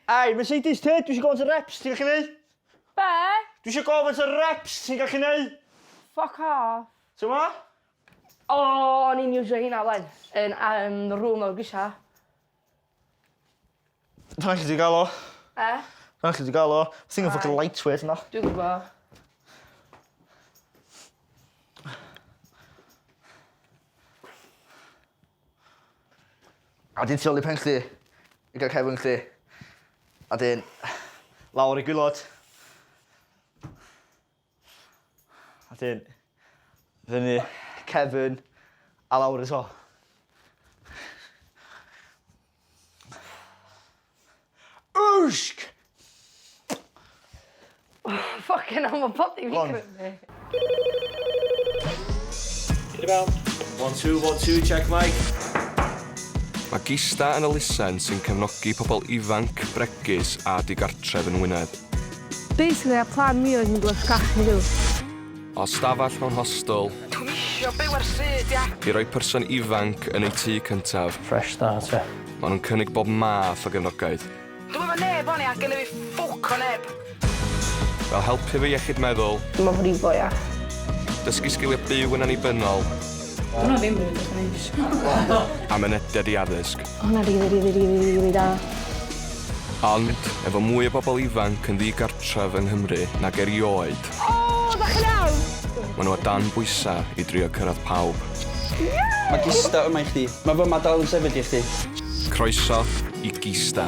Ai, Mercedes te, dwi eisiau gofyn sy'n reps ti'n gallu neud? Be? Dwi eisiau gofyn sy'n reps ti'n gallu neud? Fuck off. Ti'n ma? O, o'n i'n iwsio hynna wen. Yn um, rŵm o'r grisia. Rhai' chi 'di ga'l o. E? Rhai' chi 'di ga'l o. Thing o ffycin light weight yna. Dwi gwbo. A 'dyn tu ôl i pen chdi i ga'l cefn chdi. A 'dyn lawr i gwilod. A 'dyn fyny cefn a lawr eto. Wsg! Ffocin hell ma' podi fi'n Hon. crymu. Hyd i fewn. One two, one two, check mic. Mae Gista yn elusen sy'n cefnogi pobl ifanc, bregus a digartref yn Ngwynedd. Basically ar plan fi oedd hi'n blysh gall hi fyw. O stafell mewn hostel. Dwi'm isio byw ar stryd ia! I roi person ifanc yn eu tŷ cyntaf. Fresh start ia? Maen nhw'n cynnig bob math o gefnogaeth. Dwi'm efo neb wan ia, gennyf fi ffwc o neb. Fel helpu efo iechyd meddwl. Dim o frifo ia? Dysgu sgiliau byw yn annibynnol. Dyna ddim rili beth o'n i'n Am mynediad i addysg. O hwnna rili rili rili rili da. Ond, efo mwy o bobl ifanc yn ddigartref yng Nghymru nag erioed... O! Dach chi'n iawn? ...maen nhw o dan bwysau i drio cyrraedd pawb. Mae Gista yma i chdi. Mae fy yma dal yn sefyll i chdi. Croeso i Gista.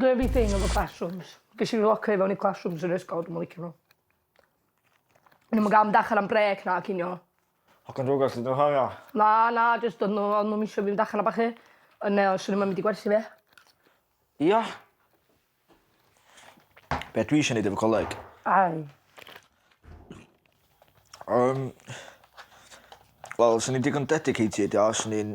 Gravy thing efo classrooms. Ges i fy locio i fewn i classrooms yn yr ysgol dwi'm yn licio n'w. O'n i'm yn ga'l mynd allan am brêc na cinio. Hogan Jôc allet n'w horio? Na na jyst o'n n'w o'n nw'm isio fi fynd allan a ballu. O'n i me'wl swn nw'm yn mynd i gwerthu fi. Ia? Be' dwi isio neud efo coleg? Ai. Yym. Wel swn i'n digon dedicated ia swn i'n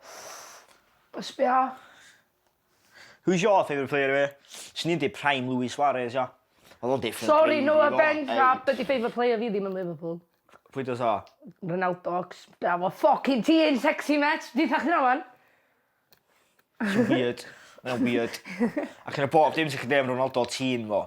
Ffff. Be' sbia? Who's your favourite player anyway? Swn i'n deu prime Luis Suarez ia. Odd o'n different breed. Sori no offence a be' 'di favourite player fi ddim yn Liverpool. Pwy does o? Ronaldo acos be' am y ffycin ti yn sexy mêt? Deutha chdi wnna ŵan. Ti'n weird. Mae o'n weird. Ac yn y bob dim sy gin Dave Ronaldo ti'n fo.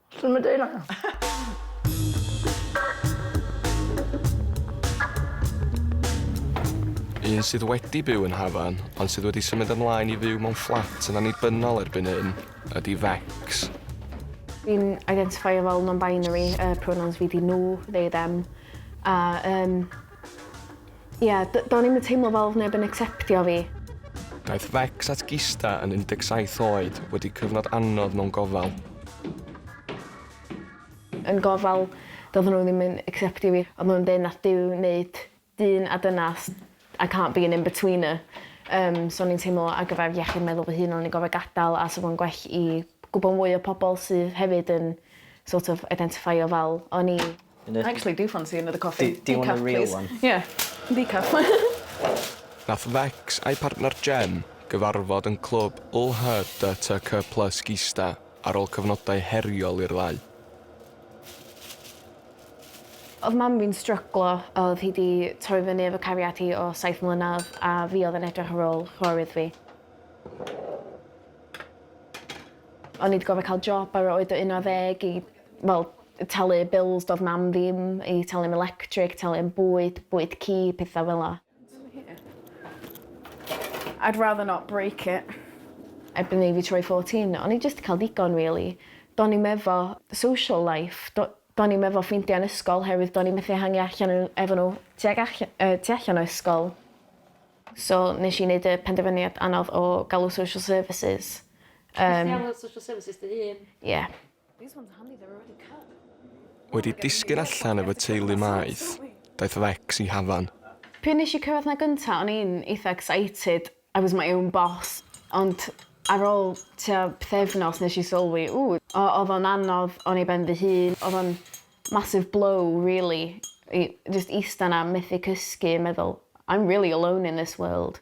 Swn i'n deud na. Un sydd wedi byw yn Hafan ond sydd wedi symud ymlaen i fyw mewn fflat yn annibynnol erbyn hyn ydy Vex. Fi'n identifeio fel non-binary yy pronouns fi 'di nhw, they, them a yym Ie, do'n i'm yn teimlo fel oedd neb yn acceptio fi. Daeth Vex at Gista yn 17 oed wedi cyfnod anodd mewn gofal. Yn gofal, doedden nhw ddim yn acceptio fi. Oedden nhw'n deud 'nath Duw wneud dyn a dynas, I can't be an in-betweener. Yym, so o'n i'n teimlo ar gyfer iechyd meddwl fy hun o'n i'n gorfod gadael a 'sa fo'n gwell i gwbod mwy o pobl sydd hefyd yn sort of identifeio fel o'n i. I actually do fancy another coffee. Decaf, please. Do you want a real one? Yeah. Decaf. Nath Vex a'i partner Jen gyfarfod yn clwb LHDTC Plus Gista ar ôl cyfnodau heriol i'r ddau. Oedd mam fi'n stryglo, oedd hi 'di troi fyny efo cariad hi o saith mlynedd a fi oedd yn edrych ar ôl chwarewydd fi. O'n i 'di gorfod cael job ar yr oed o 11 i fel talu bills do'dd mam ddim i talu am electric talu am bwyd bwyd ci petha fela. I'd rather not break it. Erbyn i fi troi fourteen o'n i jyst 'di ca'l digon rili. Do'n i'm efo social life do- do'n i'm efo ffrindia yn ysgol oherwydd do'n i methu hangi allan yn efo n'w tuag all- yy tu allan o ysgol. So nesh i neud y penderfyniad anodd o galw social services yym. Nest ti alw social services dy hun? Ie. Wedi disgyn allan efo teulu Maeth, daeth Lex i Hafan. Pryd nes i cyrraedd 'na gynta o'n i'n eitha excited, I was my own boss, ond ar ôl tua pythefnos nes i sylwi, ww, o'dd o'n anodd, o'n i ben fy hun, o'dd o'n massive blow rili i jyst ista 'na methu cysgu, meddwl I'm really alone in this world.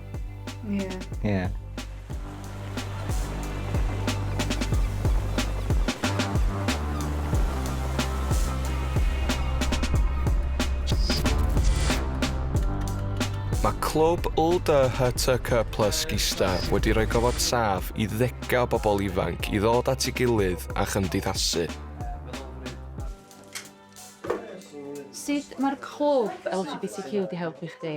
Ie. Yeah. Ie. Yeah. Mae clwb LDHTC Plus Gista wedi rhoi gofod saf i ddegau o bobl ifanc i ddod at ei gilydd a chymdeithasu. Sut mae'r clwb LGBTQ wedi helpu chdi?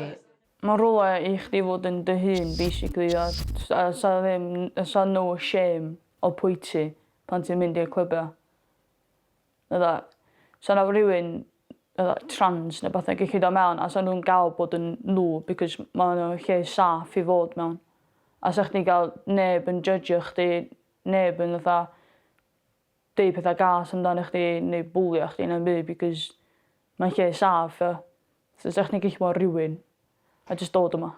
Mae rhywle i chdi fod yn dy hun basically a a 'sa ddim a 'sa no shame o pwy ti pan ti'n mynd i'r clybia. Fydda 'sa 'na rywun fydda trans ne' wbath yn gellu do' mewn a 'sa nw'n ga'l bod yn n'w because ma' wnna lle saff i fod mewn. A 'sa chdi'n ga'l neb yn jydgio chdi neb yn fatha deud petha gas amdana chdi neu bwlio chdi na'm byd because mae'n lle saff ia? So 'sech chdi'n gallu bod rywun a jyst dod yma.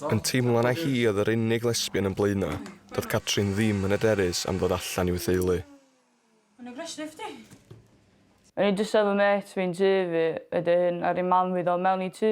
Yn teimlo na hi oedd yr unig lesbian yn Blaenau, doedd Catrin ddim yn hyderus am ddod allan i'w theulu. O'n i'n brysur chdi! O'n i jyst efo mêt fi'n tŷ fi, wedyn aru mam fi ddod mewn i tŷ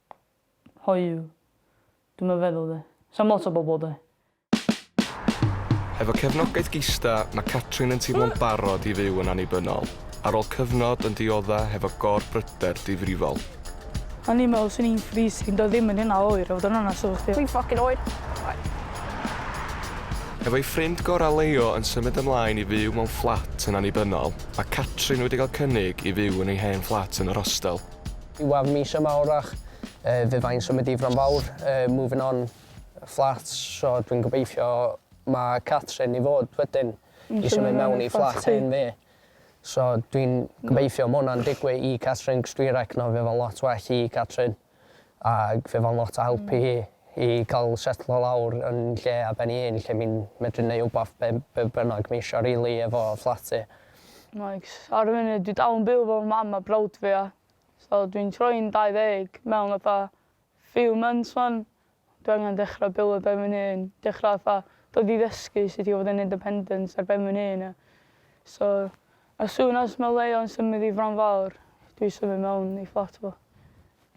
hoyw. Dwi'm yn feddwl 'de. Sa'm lot o bobl 'de. Hefo cefnogaeth Gista, mae Catrin yn teimlo'n barod i fyw yn annibynnol, ar ôl cyfnod yn diodda' hefo gor-bryder difrifol. O'n i'n meddwl 'swn i'n freezing, doedd ddim yn hynna oer, i fod yn onest efo chdi. Dwi'n ffocin oer! Hefo'i ffrind gorau Leo yn symud ymlaen i fyw mewn fflat yn annibynnol, mae Catrin wedi cael cynnig i fyw yn ei hen fflat yn yr hostel. Diwadd mis yma orach yy fe fyddai'n symud i Fronfawr yy moving on flats so dwi'n gobeithio ma' Catrin i fod wedyn i symud mewn i fflat hen fi. So dwi'n gobeithio ma' hwnna'n digwy i Catrin 'c'os dwi recno fe fo'n lot well i Catrin ag fe fo'n lot o help i hi i ca'l setlo lawr yn lle ar ben 'i hun lle mi'n medru neu' wbath be' be' bynnag ma' isio rili efo fflat hi. Like, ar y funud dwi dal yn byw efo fy mam a brawd fi a so dwi'n troi'n dau ddeg mewn fatha few months 'wan. Dwi angen dechra byw ar ben fy'n hun, dechra fatha dod i ddysgu sut i fod yn independent ar ben fy'n hun a so as soon as ma' Leon symud i Fron Fawr dwi symud mewn i fflat efo fo.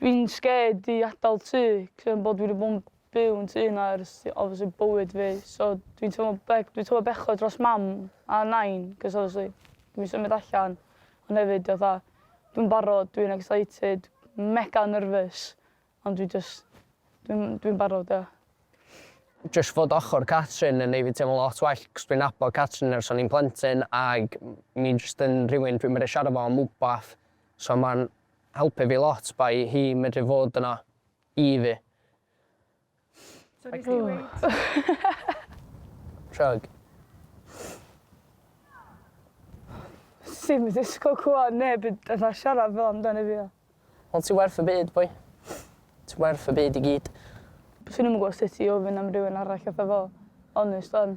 Dwi'n scared i adal tŷ 'c'os am bo' dwi 'di bo' 'n byw yn tŷ 'na ers i obviously bywyd fi so dwi'n teimlo be- dwi'n teimlo bechod dros mam a nain 'c'os obviously dwi'n symud allan ond hefyd fatha dwi'n barod dwi'n excited mega nervous ond dwi jys dwi'n dwi'n barod ia. Jyst fod ochor Catrin yn neu' fi teimlo lot well 'c'os dwi'n nabod Catrin ers o'n i'n plentyn ag mi jyst yn rhywun dwi'n medru siarad 'fo am wbath so ma'n helpu fi lot by hi medru fod yna I fi. Chug. Ti'm yn disgwyl clywed neb yn fatha siarad fel amdani fi. Wel ti werth y byd boi. Ti werth y byd i gyd. Swn i'm yn gwbo sut i ofyn am rywun arall fatha fo. Onest 'wan.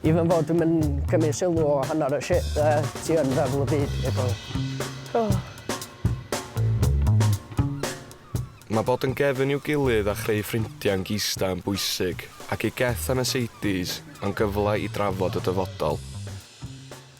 Even fod dwi'm yn cymryd sylw o hanner y shit dde, ti yn feddwl y byd i bawb. Oh. Mae bod yn gefn i'w gilydd a chreu ffrindiau'n gista yn bwysig, ac i Geth a Mercedes, mae'n gyfle i drafod y dyfodol.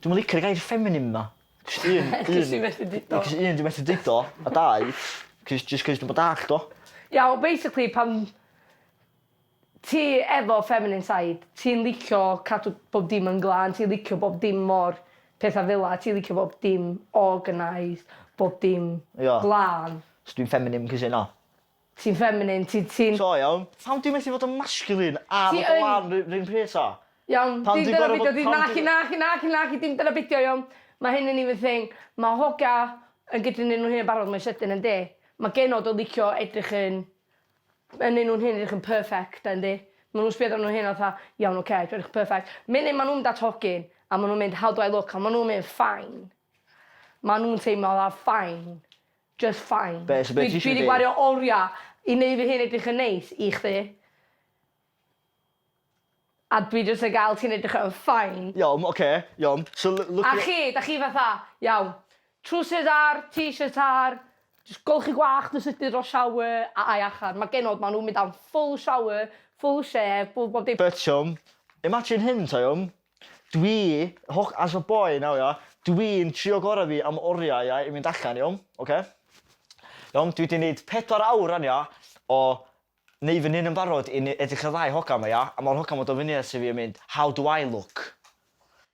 Dwi'm yn licio'r gair ffeminim 'ma. Jyst un un... 'C'os ti methu deud o. 'C'os un dwi methu deud o a dau 'c'os jyst 'c'os dwi'm yn dallt o. Iawn basically pan ti efo feminine side ti'n licio cadw bob dim yn glân ti'n licio bob dim mor petha fela ti'n licio bob dim organised bob dim... Ia. ...glân. So dwi'n ffeminim 'c'os hynna? Ti'n feminine, ti'n, ti'n... So iawn, pam dwi methu fod yn masculine a fod o lan ry- run pryd ta? Iawn, Pam dim dwi'n dyna gor'o' beidio bod- di- pam naci dwi- naci naci naci dim dyna beidio iawn. Ma' hyn yn even thing. Ma' hogia yn gydru neu' nhw hyn yn barod mwy sydyn yndi? Ma' genod o licio edrych yn yn neu' nhw'n hyn edrych yn perfect a yndi? Ma' nhw'n sbio arnyn nhw hyn a fatha iawn oce dwi edrych perfect. Munud ma' nhw'n mynd at hogyn a ma' nhw'n mynd how do I look a ma' nhw'n mynd fine. Ma' nhw'n teimlo fatha fine. Just fine. Be, so be ti isio fi ddeud? Dwi 'di gwario oria i neud fy hun edrych yn neis i chdi. A dwi jyst yn ga'l ti'n edrych yn fine. Iawn, oce, iawn. So l- look at... A chi, 'da chi fatha, iawn, trowsus ar, t-shirt ar, jyst golchi gwallt yn sydyn dros shower a ai allan. Ma' genod, ma' nw'n mynd am full shower, full shave, full bob dim. But, Siom, imagine hyn, ta, iawn. Dwi, holl, as a boy nawr ia, dwi'n trio gora fi am oriau ia i fynd allan iawn, oce? Iawn, dwi 'di neud pedwar awr rwan ia o neu' fy nhŷn yn barod i ne- edrych ar ddau hogan 'ma ia a ma'r hogan 'ma do' fyny ata fi a mynd how do I look?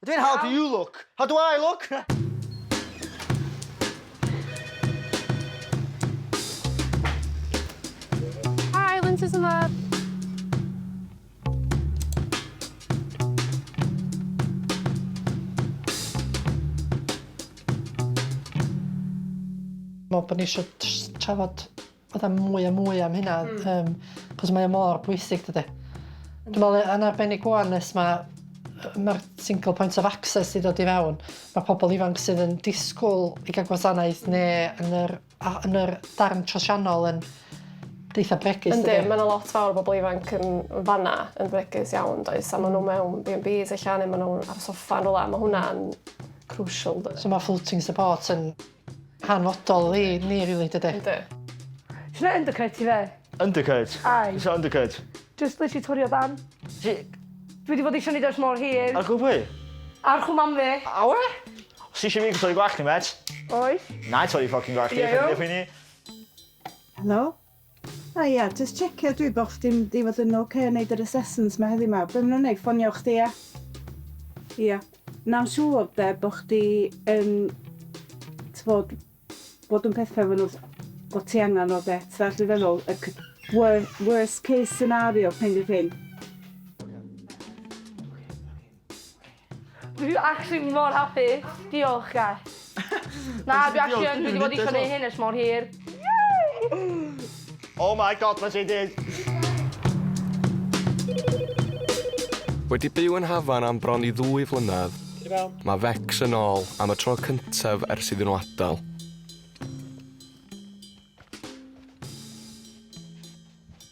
A dwi'n how do you look? How do I look? Hi Lindsay's yn dda. me'wl bo' ni isio js trafod fatha mwy a mwy am hynna... Hmm. ...yym 'c'os mae o mor bwysig dydi? Dwi me'wl yy yn arbennig ŵan nes ma' yy ma'r single point of access 'di dod i fewn ma' pobol ifanc sydd yn disgwl i ga'l gwasanaeth ne' yn yr A yn yr darn trosiannol yn eitha bregus dydi? Yndi, mae yna lot fawr o bobl ifanc yn fan 'na yn fregus iawn does? A maen nhw mewn B&Bs ella neu maen nhw ar y soffa yn rhywle. Mae hwnna'n crucial does? So mae floating support yn hanfodol i ni rili dydi? Yndi. Ti'n rhoi undercut i fe? Undercut? Aye. Isio undercut? Jyst literally twrio dan. Ti... Dwi 'di bod isio neud o ers mor hir. Ar gwddw pwy? Ar chwmam fi. Awe? Os ti eisiau fi torri gwallt chdi, met. Oes. Na i torri ffocin gwallt chdi, paid â phoeni. Helo? A ia, jyst checio dwi bo chdi'n mynd i fod yn ocê yn neud yr assessments ma heddi ma. Be ma nhw'n neud, ffonio chdi a? Ia. Na'n siŵr de, bo chdi yn t'bod bod yn petha efo nhw bo ti angan nhw de, ti dallt be dwi feddwl? Y c- wor- worst case scenario kind of thing. Dwi actually mor hapus. Diolch guys. Na, dwi actually yn, dwi wedi bod eisiau gwneud hyn ers mor hir. Oh my god, mae JD! Wedi byw yn Hafan am bron i ddwy flynedd, mae Vex yn ôl am y tro cyntaf ers iddyn nhw adael.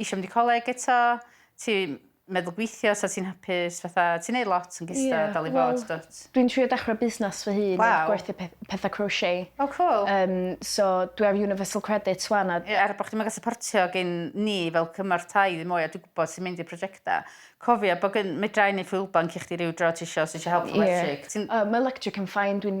isio mynd i coleg eto, ti'n meddwl gweithio so ti'n hapus fatha ti'n neud lot yn gystal yeah, dal i well, fod dwt. Dwi'n trio dechra busnes fy hun wow. gwerthu peth, pethau crochet. Oh cool. Um, so dwi ar Universal Credit swan a... Yeah, er bod chdi'n mynd supportio gen ni fel cymorth tai ddim mwy a dwi'n gwybod sy'n mynd i'r prosiectau. Cofio bod gen medrau neu ffwylbanc i chdi rhyw dro ti eisiau os eisiau help yeah. electric. Uh, mae electric yn ffain, dwi'n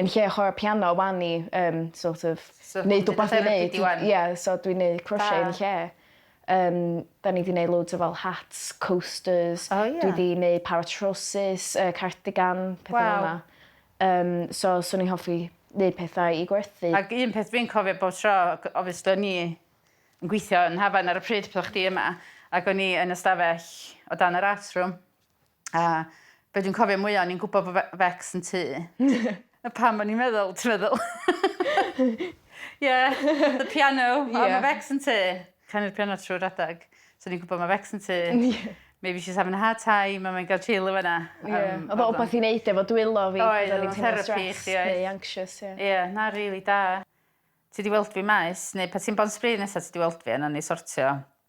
yn lle chwara piano wan i yym sort of neud wbath i neud ie so dwi'n neud crochet yn lle. Yym 'dan ni 'di neud loads o fel hats coasters... O ie? ...dwi 'di neud para trowsus yy cardigan petha fel 'na. Waw. Yym so swn i'n hoffi neud pethau i gwerthu. Ag un peth dwi'n cofio bob tro ac obviously o'n i yn gwithio yn Hafan ar y pryd pan o' chdi yma ac o'n i yn y stafell o dan yr art room A be' dwi'n cofio mwya o'n i'n gwbo bo' fe- Vex yn tŷ. A pam o'n i'n meddwl ti meddwl? Yeah the piano o ma' Vex yn tŷ. Canu'r piano trw'r adag. So o'n i'n gwbo ma' Vex yn tŷ. Maybe she's having a hard time a mae'n ga'l chill yn fan 'na. Ie. O'dd o wbath i neud efo dwylo fi. Oedd o'dd o'n therapi i chdi oedd? Neu anxious ie. Ie na rili da. Ti 'di weld fi maes neu pan ti'n Bont Spree nesa ti 'di weld fi a nawn ni sortio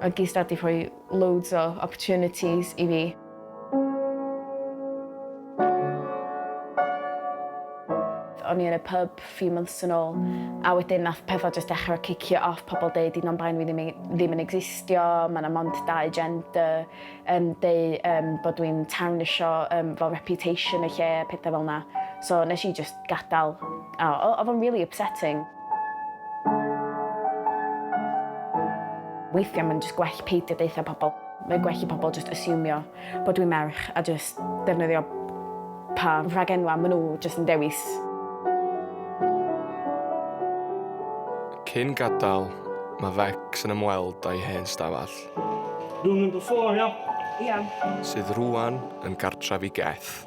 Mae G-Star 'di rhoi loads o opportunities i fi. O'n i yn y pub few months yn ôl a wedyn nath petha jyst dechra cicio off, pobl deud di non-binary fi ddim i- ddim yn egsistio, ma' 'na mond dau gender, yn deu yym bod dwi'n tawnisio yym fel reputation y lle a petha fel 'na. So nes i jyst gadael. O, oedd o'n really upsetting. Weithiau mae'n jyst gwell peidio deutha pobl. Mae'n gwell i pobl jyst asiwmio bod dwi'n merch a jyst defnyddio pa rhagenwau maen nhw jyst yn dewis. Cyn gadael, mae Vex yn ymweld â'i hen stafell. Room number four, ia? Ia. Sydd rŵan yn gartref i Geth.